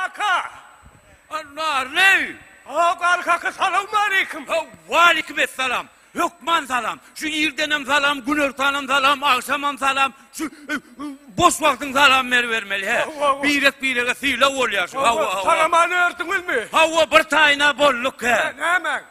Kaka! Narly! Haw gal kaka salawmaleýkim. Haw waleýkim essalam. Hökman salam. Şu irdenem salam, günortanam salam, agşamam salam. Şu e, boş wagtyň salam ber bermeli he. Birek birege syla bolýar şu. Haw haw. Salamany ördüňizmi? Haw bir taýna bolduk he. Näme?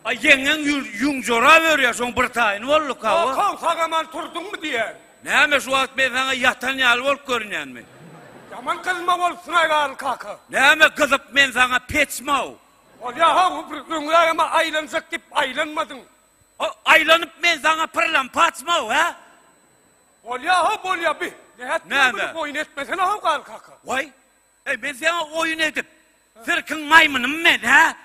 A ýeňňeň ýüň jorap örýär, şoň bir taýyny bolduka bu. Okan sagaman turduňmy diýýän. Näme şu wagt men saňa ýatan ýaly bolup görünýänmi? Ýaman gyzma bolup synaý galy kaka. Näme gyzyp men saňa peçmaw. Bolýa ha bu bir öňrägeme aýlanjak diýip aýlanmadyň. O aýlanyp men saňa pyrlan paçmaw hä? Bolýa ha bolýa bi. Näme? Boýun etmesene haw galy kaka. Waý. Eý, men seňe oýun edip, sirkiň maýmynymy men, hä?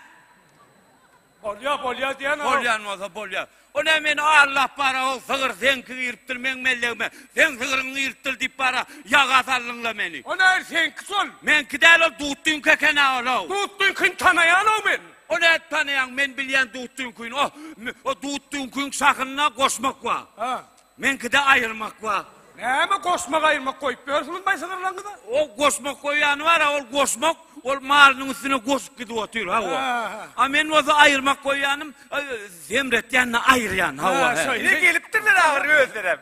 Bolýa, bolýa diýen-ow. Bolýan bolsa bolýa. O näme meni allap bara-ow, sygyr seňki giripdir meň mellegime, seň sygyryňy giripdir diýip bara, ýaga saldyň-la meni. O nähili seňki şol? Meňki däl ol, Dutdyňky eken-ä ol-ow. Dutdyňkyny tanaýan-ow men. O nädip tanaýaň, men bilýän Dutdyňkyny. O, o Dutdyňkyň şahyna goşmak bar. Hä. Meňkide aýyrmak bar. Näme goşmak aýyrmak goýup ýörsiňiz baý sygyrlaryňyza? O goşmak goýýany bar-a, ol goşmak, ol malynyň üstüne goşup gidip otyr, hawa. A men bolsa aýyrmak goýýanym, semretýän-de aýyrýan, hawa. Ine gelipdirler ahyry özlerem.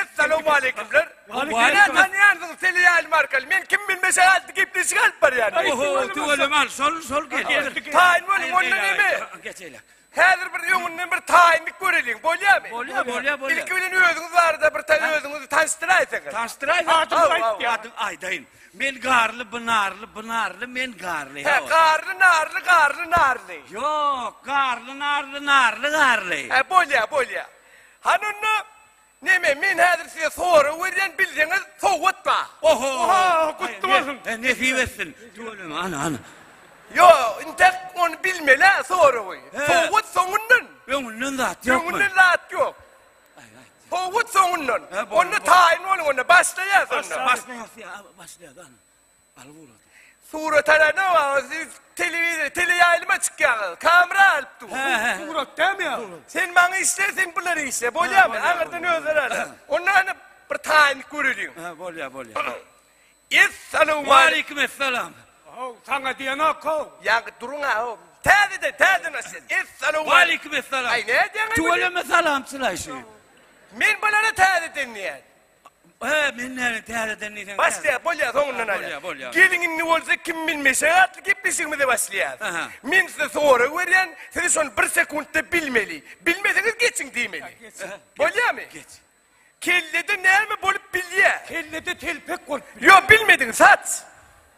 Essalowmaleýkumlar. Meni tanýansyňyz, seleýalim arkaly. Men kim bilmeşe gaty gepleşik alyp barýan. Oho, tüweleme, şol, şol gel. Taýyn boluň, onda neme? Geçeýläk. Häzir bir öňünden bir taýmik göreliň, bolýamy? Bolýar, bolýar, bolýar. Ilki bilen özüňiz barada bir taý özüňizi tanyşdyraýsaňyz. Tanyşdyraýsaň, adyňyzy aýt, adyňy aýdaýyn. Men Garly, bu Narly, bu Narly, men Garly. Hä, Garly, Narly, Garly, Narly. Ýok, Garly, Narly, Narly, Garly. Hä, bolýar, bolýar. Hany onda Neme men häzir size sorag berýän bilseňiz sowgat ba. Oho gutly bolsun. Nesip etsin. Tüweleme ana ana. Ýo intek ony bilmelä soragy. Sowgat soňundan. Öňünden zat ýokmy. Öňünden zat ýok. Sowgat soňundan. Onda taýyn boluň onda başlaýas onda. Başlaýas ýa başlaýas ana. Surat alanda siz telewizor, teleýaýlyma çykýaňyz. Kamera alyp dur. Surat dämi ýa? Sen maňa işle, sen bulara işle. Bolýarmy? Aňyrdan özleri alýar. Onda ýa bir taýynlyk göreliň. Ha, bolýar, bolýar. Essalawma. Wa aleýkum essalam. Haw, saňa diýenok haw. Ýa duruň haw. Täzeden, täzeden başlaýyn. Essalawma. Wa aleýkum essalam. Aý, nädýäň? Tüweleme salamçylaýşy. Men bulara täzeden diýýän. He, men nälet täzeden diýseň. Başlaýar, bolýar, soňundan aýdar. Bolýar, bolýar. Geliň indi bolsa kim bilmeşek atly gepleşigimize başlaýarys. Aha. Men size sorag berýän, siz şony bir sekuntda bilmeli. Bilmeseňiz geçiň diýmeli. Geçiň. Bolýarmy? Geç. Kellede näme bolup bilýär? Kellede telpek bolup bilýär. Ýok, bilmediňiz, saç.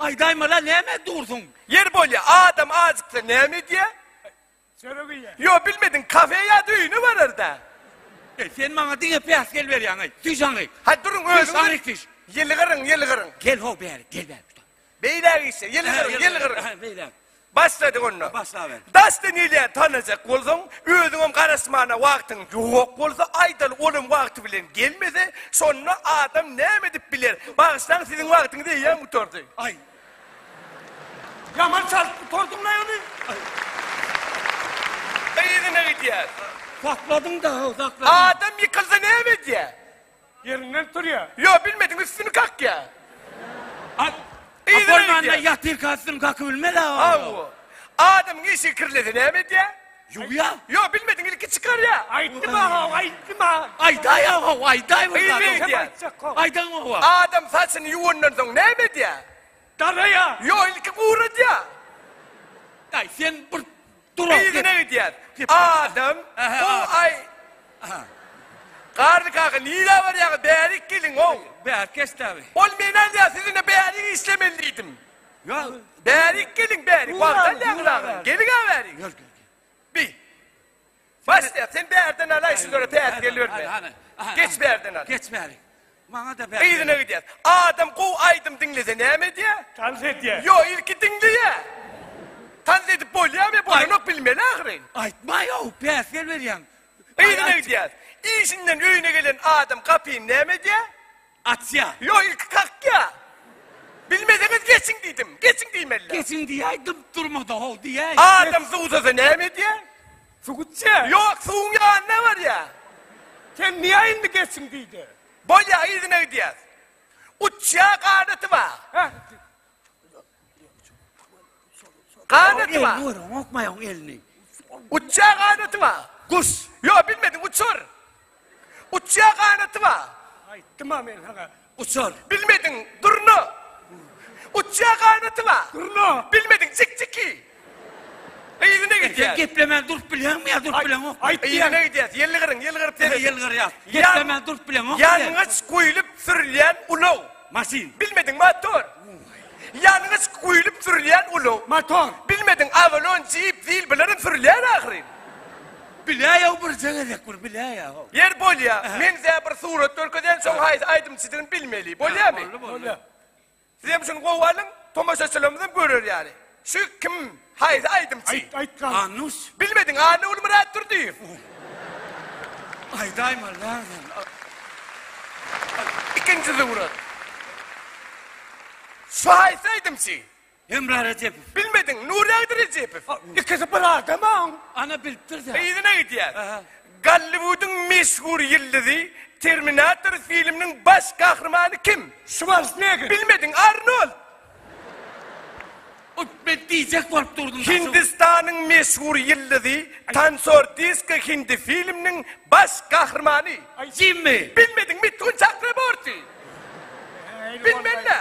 Aýdaýmala näme dursuň. Ýer bolýa adam ajyksa näme edýä? Çörek iýýä. Ýo bilmediň kafe ýa öýüne bararda. Eý sen maňa diňe päsgel berýäň eý. Düş aňyk. Haý duruň Düş özüňiz. aňyk düş. Ýylgyryň ýylgyryň. Gel ho bäri gel bäri. Beýläk işe ýylgyryň ýylgyryň. Beýläk. Başladyk onda. Başlaber. Dasty nile tanajak bolsaň, özüňem garaşmana wagtyň ýok bolsa, aýdaly olam wagty bilen gelmese, şonda adam näme edip biler? Bagyşlaň siziň wagtyňyz eýýäm gutardy. Aý. Ýaman çalyp gutardyňlaý ony. Yzyna gidýär. Sakladyň-da, sakladyň. Adam ýykylsa näme edýär? Ýerinden turýa. Ýo bilmediň üstüni kakýa. At yzyna Bolmanda gidýä. ýatyrka üstüni kakyp bilmez a Hawa. oglum. Adamyň işigi kirlese näme edýä? Ýuwýa. Ýo bilmediň ilki çykarýa. Aýtdym a haw, aýtdym a. Aýdaý a haw, aýdaý bir Yzyna zat. gidýä. Aýtjak haw. Aýdaň hawa. Adam saçyny ýuwandan soň näme edýä? Daraýa. Ýo ilki guradýa. Daý sen bir Yzyna gidýär. Adam, Ho-aý! Garry kaka, nirä barýaňyz? Bärik geliň-ow! Bärik geçdi abi. Ol meni alýar, siz indi bärik işlemeli diýdim. Bärik geliň, bärik. Wagt alýaňyz agam. Geliň-ä bärik. Bi. Başlaýar. Sen bärden alaý şulary päsgel berme. Geç bärden al. Geç bärik. Maňada bäs gelip. Yzyna gidýär. Adam gowy aýdym diňlese näme edýä? Tans edýä. Ýo ilki diňleýä. Tans edip bolýamy? Bolanok bilmeli ahyryn. Aýtmaýow bäs gel berýäň. Yzyna gidýär. Işinden öýüne gelen adam gapyny näme edýä? Açýa. Ýo ilki kakýa. Bilmeseňiz geçiň diýdim. Geçiň diýmeli. Geçiň diýäý dymyp durmada how diýäý. Adam suwsasa näme edýä? Suw içýä? Ýok, suwuň ýanyna barýa. Sen niä indi geçiň diýdi. Bolýa, yzyna gidýäs. Uçýa, ganaty bar. Hä? Ganaty bar. Elini görüň, okmaýaň elini. Uçýa, ganaty bar. Guş. Ýok, bilmediň, uçur. Uçýar ganaty bar. Aýtdym-a men saňa, uçar. Bilmediň, durna. Uçýar ganaty bar. Durna. Bilmediň, jikjiki. Yzyna gidýär. Sen geplemän durup bilýäňmi ýa durup bileňok? Aýt diýen. Yzyna gidýär. Ýylgyryň, ýylgyryp. Ýylgyrýas. Geplemän durup bileňok. Ýangyç guýlup sürülýän ulag. Maşyn. Bilmediň, motor. Ýangyç guýlup sürülýän ulag. Motor. Bilmediň, Avalon, Jeep, Zil bularym sürülýär ahyryn. Biläýow birje gezek bir biläýow. Ýer bolýa. Men size bir surat görkezýän şoň haýsy aýdymçydygyny bilmeli. Bolýamy? Bolýa. Sizem şuny gowy alyň, tomaşaçylarymyzam görer ýaly. Şu kim haýsy aýdymçy. Aýt aýt gal. Anuş. Bilmediň a Nurmyrat Durdyýew. Aýdaýma näzin. Ikinji surat. Şu haýsy aýdymçy. Hemra Rejepow. Bilmediň Nuragdy Rejepow. Ikisi bir adama. Ana bilipdir sen. Yzyna gidýär. Aha. Golliwudyň meşhur ýyldyzy Terminator filminiň baş gahrymany kim? Şwarsnegger. Bilmediň Arnold. Men diýjek bolup durdum. Hindistanyň meşhur ýyldyzy, tansör Disko Hindi filminiň baş gahrymany. Jimmi. Bilmediňmi? Tun Çakraborti. Bilmen-le.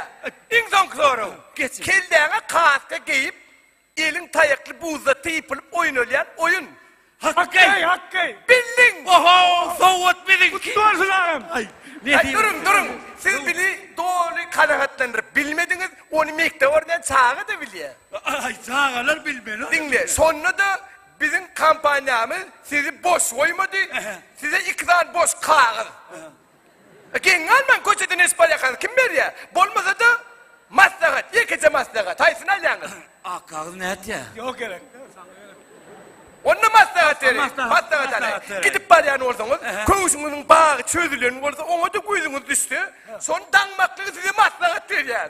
Iň soňky soraw. Geç. Kelläňe kaska geýip. Elin taýakly buzda typylyp oýnalýan oýun. Hakkeý! Hakkeý! Bildiň! Oho! Sowgat biziňki! Gutly bolsun agam! Aý, nesip Duruň, duruň! Siz bili doly kanagatlandyryp bilmediňiz, ony mekdep öwrenen çaga-da bilýär. Aý, çagalar bilmeli. Diňle, şonda-da biziň kompaniýamyz sizi boş goýmady, size iki sany boş kagyz. Geň galmaň köçede neşip alýakaňyz kim berýä? Bolmasada maslahat ýekeje maslahat haýsyny alýaňyz? Akgagyz nätýä? Ýok gerek. Onda maslahat beriň. Maslahat, Maslahat alaýyň. maslahat beriň. Gidip barýan bolsaňyz, Ähä. köwşüňiziň bagy çözülen bolsa, oňa-da gözüňiz düşse, şony daňmaklygy size maslahat berýär.